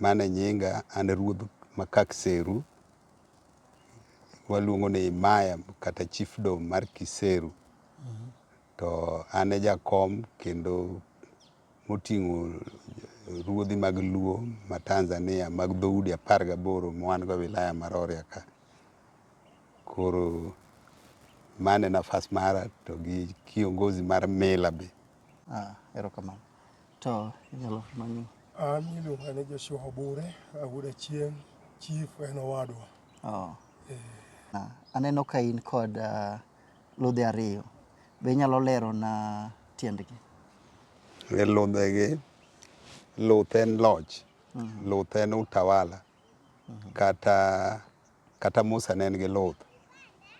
Mano e nyinga, an e ruodh Makak Seru. Waluongo ni Imaya kata Chiefdom mar Kiseru. To an e jakom kendo moting'o ruodhi mag Luo ma Tanzania mag dhoudi apar gaboro ma wan go e wilaya ma Rorya ka. Koro mano e nafas mara to gi kiongozi mar mila be. Erokamano. To inyalo manyo. An iluonga ni Joshua Obure, awuoda chieng, chief en owadwa. Oh. Eh. Ah, aneno ka in kod uh, ludhe ariyo. Be inyalo lero na tiendgi? E ludhegi, luth en loch, mm -hmm. luth en utawala, mm -hmm. kata, kata Musa ne en gi luth.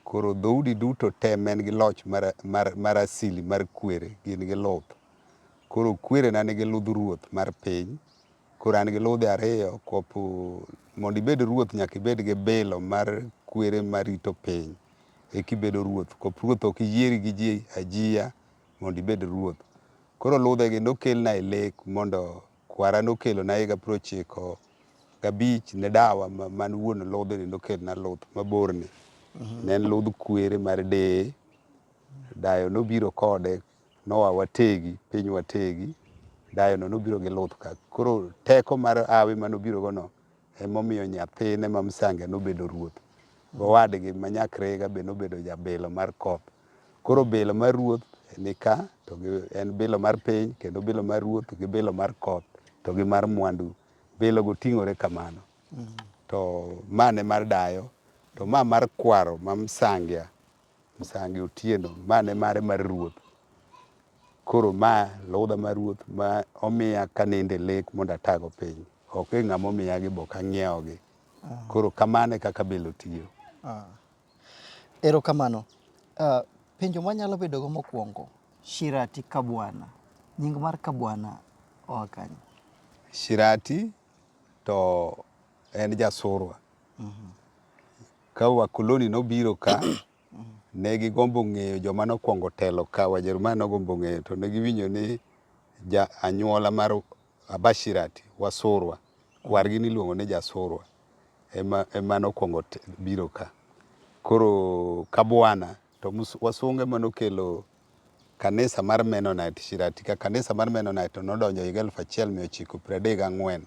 Koro dhoudi duto te en gi loch mar, mar, mar asili mar kwere gin gi luth. Koro kwerena nigi ludh ruoth mar piny. Koro an gi ludhe ariyo kopo mondo ibed ruoth nyaka ibed gi bilo mar kwere marito piny eka ibedo ruoth. Kop ruoth ok yieri gi ji ajia mondo ibed ruoth. Koro ludhegi nokelna e lek mondo kwara nokelona higa piero ochiko gabich ne dawa man wuon ludhni nokelna luth maborni. Ne en ludh kwere mar deye. Dayo nobiro kode. Noa wategi, piny wategi, dayono nobiro gi luth ka. Koro teko mar hawi mane obirogono ema omiyo nyathine ma msange nobedo ruoth. Gowadgi ma nyakrega be nobedo jabilo mar koth. Koro bilo mar ruoth ni ka, to gi en bilo mar piny, kendo bilo mar ruoth gi bilo mar koth, to gi mar mwandu. Bilogo ting'ore kamano. To ma ne mar dayo, to ma mar kwaro ma msangia. Msangi Otieno, ma ne mare mar ruoth. Koro ma ludha mar ruoth ma omiya kaninde lek mondo atago piny. Ok e ng'ama omiya gi bok ang'iewo gi. Koro kamano e kaka bilo tiyo. Ah. Erokamano. Ah, penjo mwanyalo bedogo mokwongo, Shirati Kabwana. Nying mar Kabwana oa kanye? Shirati to en jasurwa. Ka wakoloni nobiro ka, ne gigombo ng'eyo joma nokwongo telo ka. Wajerumani nogombo ng'eyo, to ne giwinjo ni ja anyuola mar Abashirati, Wasurwa, kwargi niluongo ni Jasurwa, ema, ema nokwongo biro ka. Koro Kabwana To wasunge ema nokelo kanisa mar Mennonite Shirati ka. Kanisa mar Mennonite to nodonjo higa 1934.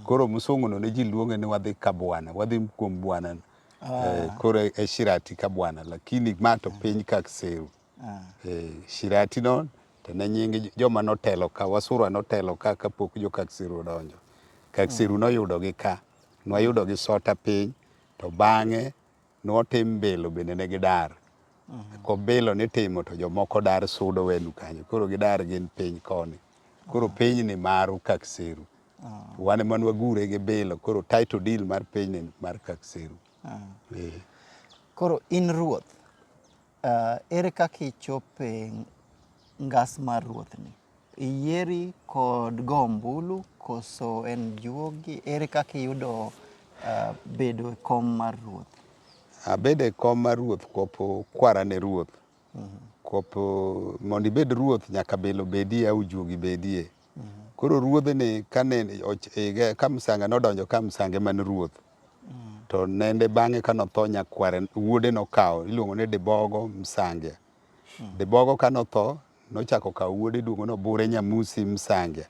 Koro msunguno ne ji luonge ni wadhi ka bwana, wadhi kuom bwana. Eh, koro e Shirati ka bwana, lakini ma to piny ka Kiseru. Eh, Shirati no to ne nying joma notelo ka, Wasurwa notelo ka kapok jo ka Kiseru odonjo. Ka Kiseru noyudogi ka, nwayudogi Sota piny to bang'e Notim bilo bende ne gidar. Ko bilo nitimo to jomoko dar sudo wenu kanyo. Koro gidar gin piny koni. Koro piny ni maru Kakseru. Wan ema nwagure gi bilo. Koro title deal mar piny ni mar Kakseru. Eh. Koro in ruoth, Ere kaka ichopo e ngas mar Ruothni? Iyieri kod go ombulu koso en juogi? Ere kaka iyudo bedo e kom mar Ruoth? Abedo e kom mar Ruoth kopo kwara ne Ruoth. Kopo mondo ibed Ruoth nyaka belo bedie au juogi bedie. Koro ruodh ni kane ige ka msange nodonjo ka msange man ruoth. To nende bang'e ka notho nyakware wuode nokawo iluongo ni Dibogo Msange. Dibogo ka notho nochako kawo wuode iluongo ni Obure Nyamusi Msange.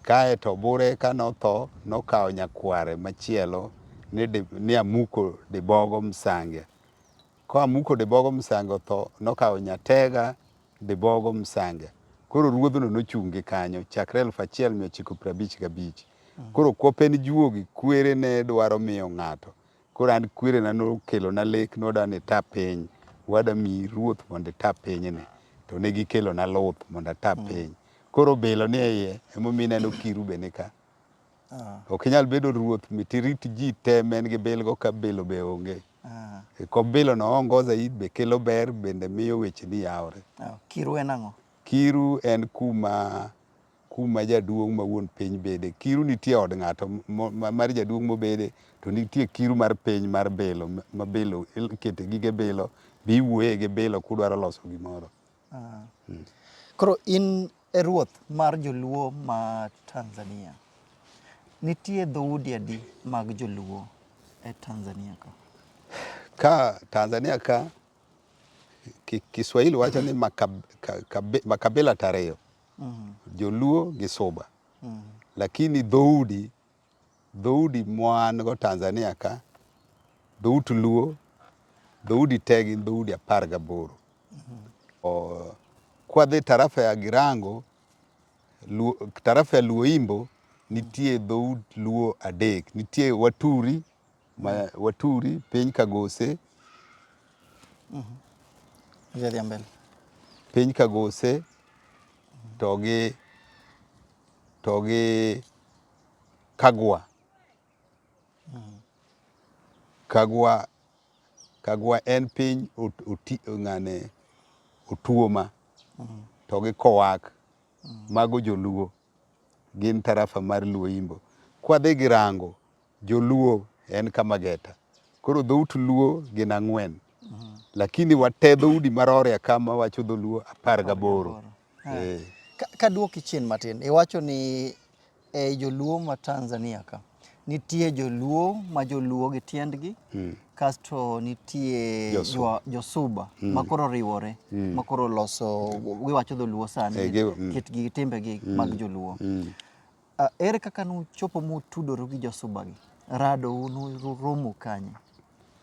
Kae to Obure ka notho nokawo nyakware machielo ni, ni Amuko Dibogo Msange. Koa muko dibogo msange otho, nokawo Nyatega dibogo msange. Koro ruodhno nochung' gi kanyo chakre eluf achiel mia ochiko piero abich gabich. Koro kwop en juogi, kwere ne dwaro miyo ng'ato. Koro an kwerena nokelona lek, nodwa ni ita piny. Wada miyi ruoth mondo ita pinyni. To ne gikelona luth mondo ata piny. Koro obilo ni e iye, emomiyo ineno kiru be ni ka. Ok inyal bedo ruoth mit irit ji te ma en gi bilgo ka bilo be onge. E kop bilo no ongoza it be kelo ber bende miyo weche ni yawore. Kiru en ang'o? Kiru en kuma kuma jaduong' ma wuon piny bede. Kiru nitie od ng'ato mar jaduong' mobede to nitie kiru mar piny mar bilo ma bilo ikete gige bilo be iwuoye gi bilo kudwaro loso gimoro. Ah. Hmm. Koro in E ruoth mar joluo ma Tanzania, nitie dhoudi adi mag joluo e Tanzania ka? Ka Tanzania ka Kiswahili wacho ni makabila tariyo, mm. joluo gi suba, mm. lakini dhoudi Dhoudi mwan go Tanzania ka, dhout Luo, dhoudi te gin dhoudi apar gaboro. Kwadhi tarafa ya Girango, tarafa ya Luo Imbo, nitie dhout Luo adek. Nitie Waturi, ma Waturi, piny Kagose. Piny Kagose, to gi, to gi Kagwa. Kagwa, kagwa en piny oti ng'ane otuoma to gi kowak mago joluo gin tarafa mar luo imbo. Kwadhi gi rango joluo en kama geta koro dhout luo gin ang'wen lakini wate dhoudi marore kama wacho dholuo apar gaboro Eh. Ka duoki chien matin, iwacho ni e joluo ma Tanzania ka nitie joluo ma joluo gi tiendgi mm. kasto nitie josuba jo, jo mm. ma koro riwore mm. ma koro loso giwacho dholuo sani e, mm. kitgi gi timbegi mm. mag joluo mm. Ah, ere kaka nuchopo mutudoru gi josubagi? Rado nuromo kanye?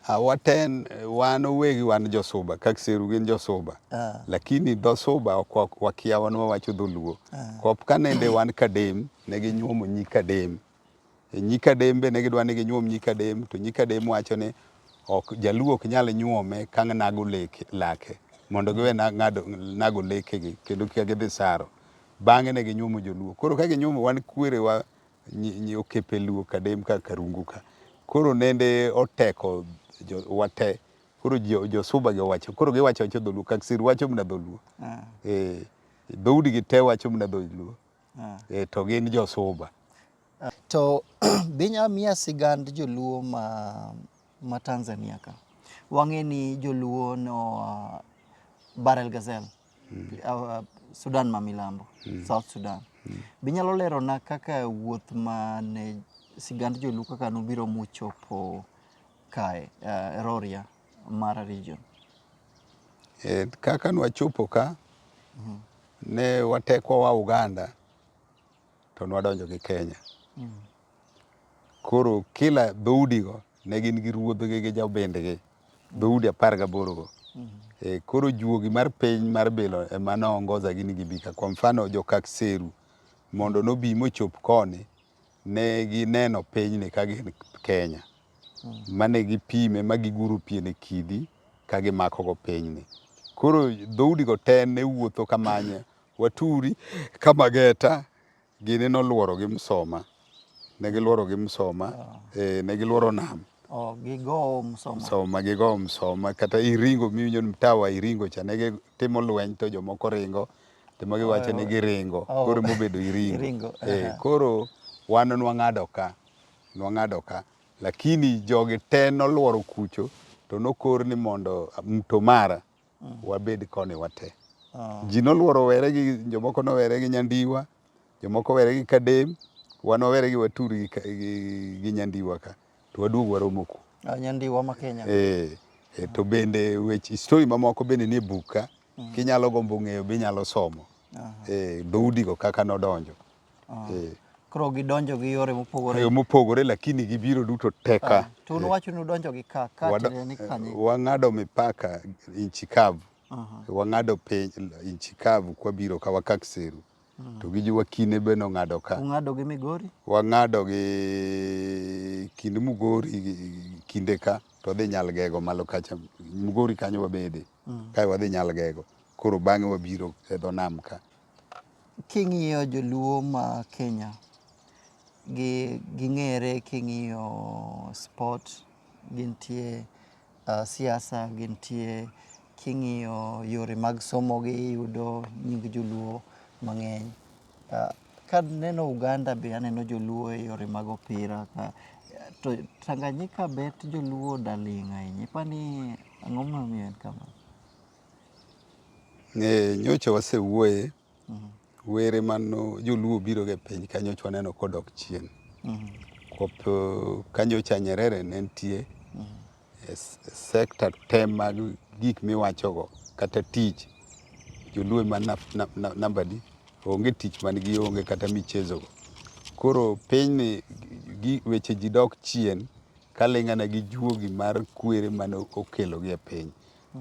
Ah, waten wan owegi wan josuba kakseru gin josuba ah. lakini dhosuba ok wakia wan wawacho dholuo ah. kop ka nende wan kadem ne ginyuomo nyi kadem e nyi kadem be ne gidwa ni ginyuom nyi kadem to nyi kadem wacho ni ok jaluo ok nyal nyuome ka nago leke mondo giwe nago lekegi kendo kika gidhi saro Bang'e ne ginyuomo joluo. Koro ka ginyuomo wan kwerewa nyi- nyi okepe luo kadem ka karungu ka. Koro nende oteko jo- wate. Koro jo- josuba gi owacho. Koro giwacho wacho dholuo. Kaksir wacho mna dholuo. Ah, Eh, dhoudi gi te wacho mna dholuo. ah. Eh, to gin josuba. To be inyalo miya sigand joluo ma, ma Tanzania ka? Wang'e ni joluo no uh, Barel Gazelle. Sudan ma milambo, South Sudan. Be inyalo lerona kaka wuoth ma ne sigand joluo kaka nobiro muchopo kae, uh, Roria, Mara region? E, kaka nwachopo ka ne watekwa wa Uganda to nwadonjo gi Kenya. Koro kila dhoudigo ne gin gi ruodhgi gi jobindgi, dhoudi apar gaborogo. E, koro juogi mar piny mar bilo ema noongoza gini gibika. Kwa mfano Jokakseru mondo nobi mochop koni ne gineno pinyni ka gin Kenya. Mane gipime ma giguro pien e kidi ka gimakogo pinyni. Koro dhoudigo te ne wuotho kamanye Waturi ka Mageta gini nolworo gi Msoma. Ne gilworo gi Msoma, ah. eh, ne gilworo nam. Oh, gigo Msoma. Msoma, gigo Msoma. Kata Iringo miwinjo ni Mtawa Iringo cha ne gitimo lweny to jomoko ringo. To ma giwacho ni oh. giringo. Oh. Koro mobedo Iringo. Iringo. Eh, koro wan nwang'ado ka. Nwang'ado ka. Lakini jogi te nolworo kucho to nokor ni mondo Mtomara. wabed koni wate. Ah. Ji noluoro were gi jomoko nowere gi nyandiwa, jomoko were gi kadem, wan wawere gi watur gi, gi, gi nyandiwa ka to waduog waromo ku. Ah, nyandiwa ma Kenya. Eh, eh, to bende weche story mamoko bende nie buk ka mm. kinyalo gombo ng'eyo binyalo somo. Eh, dhoudi go kaka nodonjo. Ah. Eh. Koro gidonjo gi yore mopogore. Yo mopogore lakini gibiro duto teka. Ah, to eh. uwacho ni udonjo gi ka ka ni kanye. Wang'ado mipaka inchi kavu. Wang'ado piny inchi kavu kwa biro ka wakak seru. Mm. To gi jiwa kine be nong'ado ka. Ung'ado gi Migori? Wang'ado gi kind Mugori kinde ka to dhi Nyalgego malo kacha. Mugori kanyo wabede. Mm. Kae wadhi Nyalgego. Koro bang'e wabiro e dho nam ka. King'iyo joluo ma Kenya gi ging'ere king'iyo spot, gintie, siasa gintie, king'iyo yore mag somo gi iyudo nying joluo mang'eny. Kaneno Uganda be aneno joluo e yore mag opira ka. To Tanganyika bet joluo odaling' ahinya. Ipani ang'o momiyo en kamano? Ng'e nyocha wasewuoye were mano joluo biro e piny ka nyocha waneno kodok chien. Kopo ka nyocha Nyerere ne nitie e s- e sekta te mag gik miwachogo kata tich joluo ema na- na- na- namba di onge tich man gi onge kata michezogo. Koro pinyni gi- weche ji dok chien kaling'ana gi juogi mar kwere mane okelogi e piny.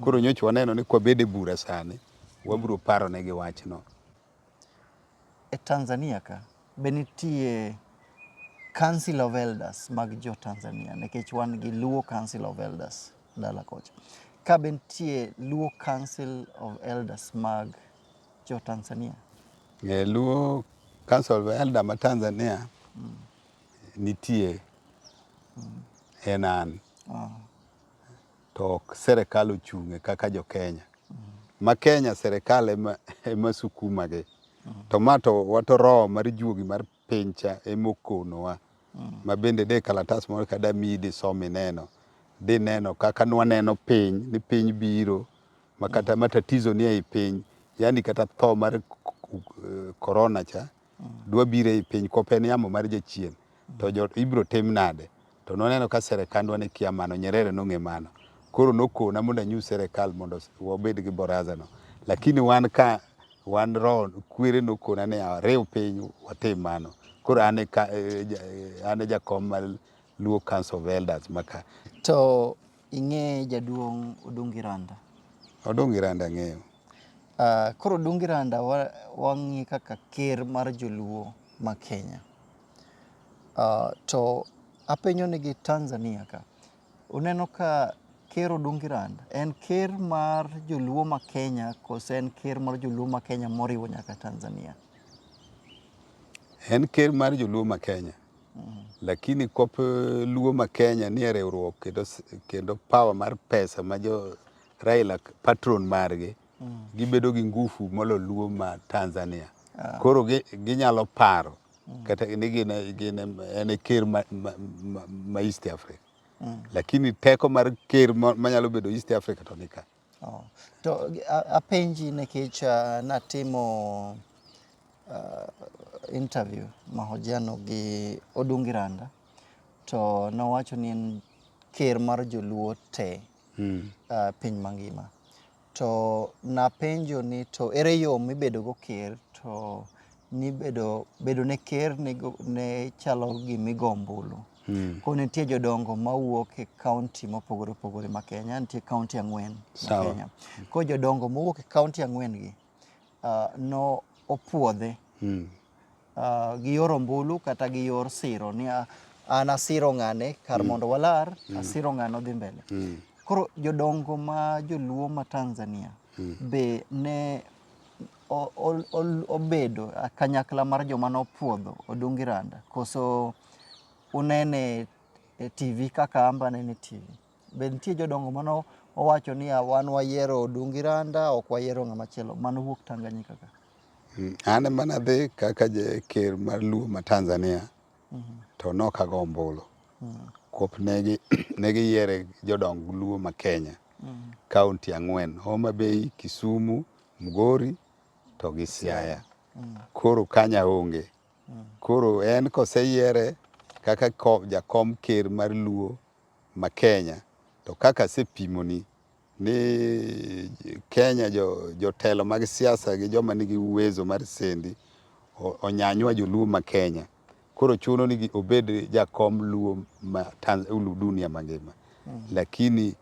Koro nyocha waneno ni kwabede bura sani wabiro paro ne gi wachno. E Tanzania ka be nitie Council of Elders mag jo Tanzania nikech wan gi Luo Council of Elders dala kocha. Ka be nitie Luo Council of Elders mag jo Tanzania? E, Luo Council of Elders ma Tanzania mm. nitie mm. en an. Oh. to ok serekal ochung'e kaka jo Kenya. Ma Kenya serekal ema, ema sukumagi. To ma to wato roho mar juogi mar piny cha ema okonowa. Ma bende de kalatas moro kada miyi disom ineno. Dineno kaka nwaneno piny, ni piny biro, ma kata matatizo ni ei piny. Yani kata tho mar eh, corona cha dwabiro ei piny kop en yamo mar jachien to jo ibiro tim nade to noneno ka serekandwa ne kia mano Nyerere nong'e mano koro nokona mondo anyu serekal mondo wabed gi boraza no lakini wan ka wan roho kwere nokona ni ariw piny watim mano koro an e ka- eh, ja- eh, an e jakom mar Luo Council of Elders maka To Ing'eye jaduong' Odungi Randa? Odungi Randa ang'eyo. Koro Odungi Randa wang'e kaka ker mar joluo ma Kenya. To apenyo ni gi Tanzania ka, uneno ka ker Odungi Randa en ker mar joluo ma Kenya kose en ker mar joluo ma Kenya moriwo nyaka Tanzania? En ker mar joluo ma Kenya. Lakini kop eh, Luo ma Kenya nie riwruok kendo, kendo power mar pesa ma jo Raila patron margi mm. gibedo gi ngufu molo Luo ma Tanzania ah. koro ginyalo gi paro mm. kata ni gin, gin en e ker ma, ma, ma, ma East Africa mm. lakini teko mar ker manyalo bedo East Africa to nika Oh. To apenji nikech uh, natimo uh, interview mahojiano gi Odungi Randa to nowacho ni en ker mar joluo te hmm. uh, piny mangima to napenjo ni to ere yo mibedogo ker to nibedo bedo ne ker ne, ne chalo gimigoo ombulu Mm. Koro nitie jodongo mawuok e kaunti mopogore opogore ma Kenya, nitie kaunti ang'wen ma Kenya. Koro jodongo mowuok e kaunti ang'wen gi uh, no opuodhe mm. uh, gi yor ombulu kata gi yor siro ni uh, an asiro ng'ane kar mm. mondo walar mm. asiro ng'ane odhi mbele. Mm. Koro jodongo ma joluo ma Tanzania mm. be ne obedo kanyakla mar joma nopuodho Odungi Randa koso unene e TV kaka amba nene e TV. Be nitie jodongo mano owacho ni wan wayiero Odungi Randa ok wayiero ng'ama chielo mano wuok Tanganyika ka. Mm, an ema nadhi kaka ker mar Luo ma Tanzania mm -hmm. to nok ago ombulu mm -hmm. kop negi negiyiere jodong Luo ma Kenya mm -hmm. kaunti ang'wen Homa Bay, Kisumu, Mugori to gi Siaya mm -hmm. koro kanya onge Koro en koseyiere kaka jakom ker mar Luo ma Kenya to kaka asepimoni ni Kenya jotelo mag siasa gi joma nigi uwezo mar sendi onyanywa joluo ma Kenya koro chuno ni obed jakom luo ma dunia mangima lakini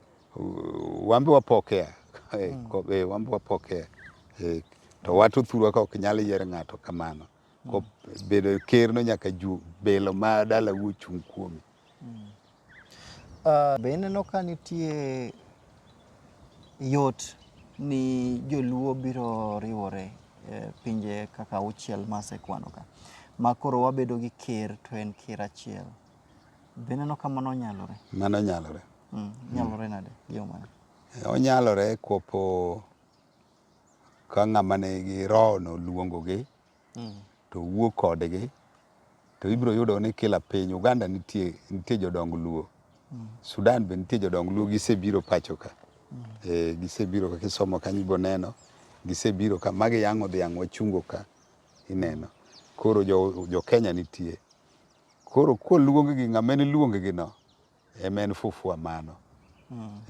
Wambe wapokea. Mm. Eh, wambe wapokea. Eh, to wato thurwa ka ok nyal yier ng'ato kamano. Ko mm. bedo ker no nyaka ju belo ma dala wuo chung kuomi. Mm. Uh, be ineno ka nitie yot ni joluo biro riwore e, pinje kaka auchiel masekwano ka ma koro wabedo gi ker to en ker achiel Be ineno ka mano nyalore? Mano nyalore. Mm, nyalore nade? Yo mane? Onyalore kopo ka ng'ama nigi rohono luongogi Mm. to wuo kodgi to ibiro yudo ni kila piny Uganda nitie nitie jodong Luo Sudan be nitie jodong Luo gisebiro pacho ka e, gisebiro ka kisomo kanyo ibiro neno gisebiro ka magi yang'o dhiang' wachungo ka ineno koro jo, jo Kenya nitie Koro koluonggi ng'ama en luongigino ema en fufua mano.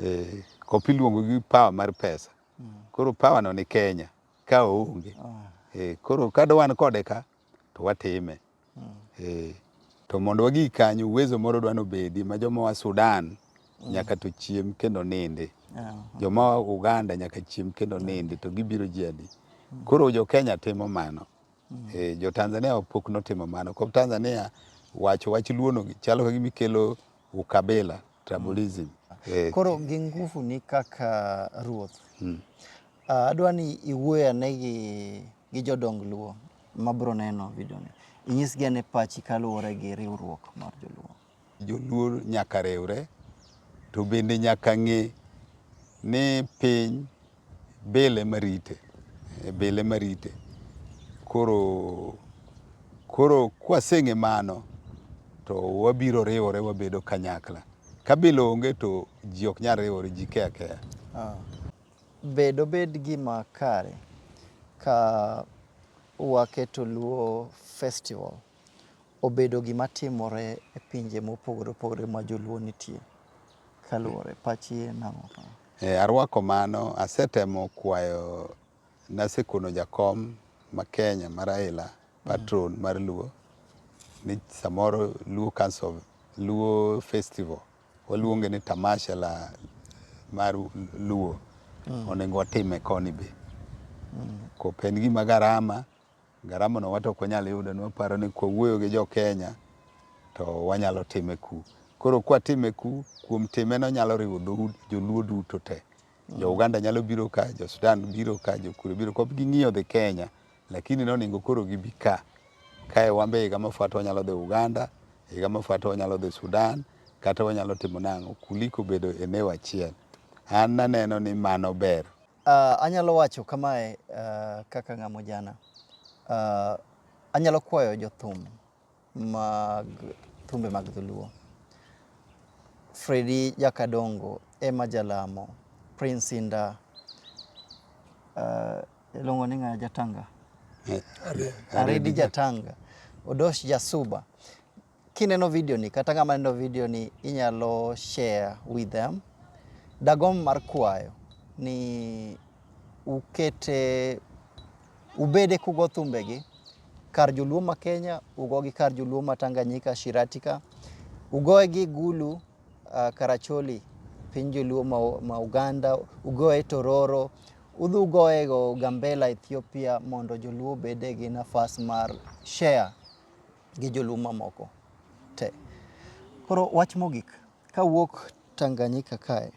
Eh, kop iluongo gi power mar pesa. Koro power no ni Kenya ka oonge. Eh, koro ka wan kode ka to watime. Eh, to mondo wagi kanyo uwezo moro dwa nobedi ma joma wa Sudan nyaka to chiem kendo nindi. Joma wa Uganda nyaka chiem kendo nindi to gibiro ji adi. Koro jo Kenya timo mano. Eh, jo Tanzania pok notimo mano. Kop Tanzania wacho wach luono gi chalo ka gimikelo ukabila, tribalism. Eh, Koro gi nguvu ni kaka ruoth. Ah, adwa ni iwuoyo ane gi, gi jodong Luo ma biro neno video ni. Inyisgi ane pachi kaluwore gi riwruok mar joluo. Joluo nyaka riwre to bende nyaka ng'e ni piny bil ema rite, eh, bil ema rite. Koro koro kwaseng'e mano to wabiro riwore wabedo kanyakla. Ka bil onge to ji ok nyal riwore, ji ke akeya. Ah. Be dobed gima kare ka waketo Luo Festival Obedo gima timore e pinje mopogore opogore ma joluo nitie. Kaluwore, pachi en ang'o ka? Eh, arwako mano. Asetemo kwayo, nasekono jakom ma Kenya ma Raila, patron mar Luo, ni samoro Luo Council of, Luo Festival, waluonge ni Tamasha la mar Luo, onego watime koni be. Kop en gima garama. Garama no wate ok wanyal yudo, nwaparo ni kwawuoyo gi jo Kenya to wanyalo time ku. Koro kwatime ku, kuom time no nyalo riwo dhout joluo duto te. Jo Uganda nyalo biro ka, jo Sudan biro ka, jo kure biro ka, ok ging'iyo dhi Kenya. Lakini noningo koro gibi ka. Kae wan be higa mafuata wanyalo dhi Uganda, higa mafuata wanyalo dhi Sudan, kata wanyalo timo nang'o, kuliko bedo eneo achiel. An naneno ni mano ber. Uh, anyalo wacho kamae uh, kaka ng'amo jana uh, ah, anyalo kwayo jothum mag thumbe mag dholuo Fredi Jakadongo ema jalamo Prince Inda uh, iluongo ni ng'a Jatanga eh, Aredi Jatanga Odosh Jasuba Kineno video ni kata ng'ama neno video ni inyalo share with them. Dagom mar kwayo ni ukete ubede kugo thumbegi kar joluo ma Kenya ugogi kar joluo ma Tanganyika Shiratika ugoe gi Gulu uh, Karacholi piny joluo ma, ma Uganda ugoe Tororo udhi ugoe go Gambela Ethiopia mondo joluo bede gi nafas mar share gi joluo mamoko te. Koro wach mogik, kawuok Tanganyika kae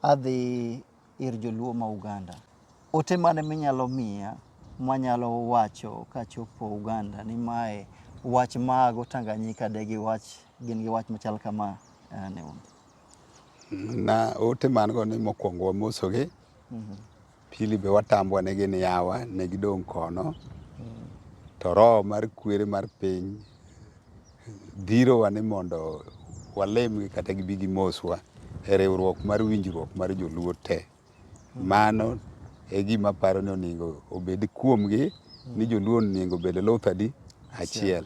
adhi ir joluo ma Uganda, ote mane minyalo miya manyalo wacho kachopo Uganda ni mae wach mago Tanganyika de gi wach gin gi wach machal kama eh, ne un? Na ote man go ni mokwongo wamosogi, Pili be watambwa ne gin yawa, ne gidong' kono. To roho mar kwere mar piny dhirowa ni mondo walemgi kata gibi gimoswa e riwruok mar winjruok mar joluo te. Mano e gima aparo ni onego obed kuomgi ni joluo onego obed luth adi? Achiel.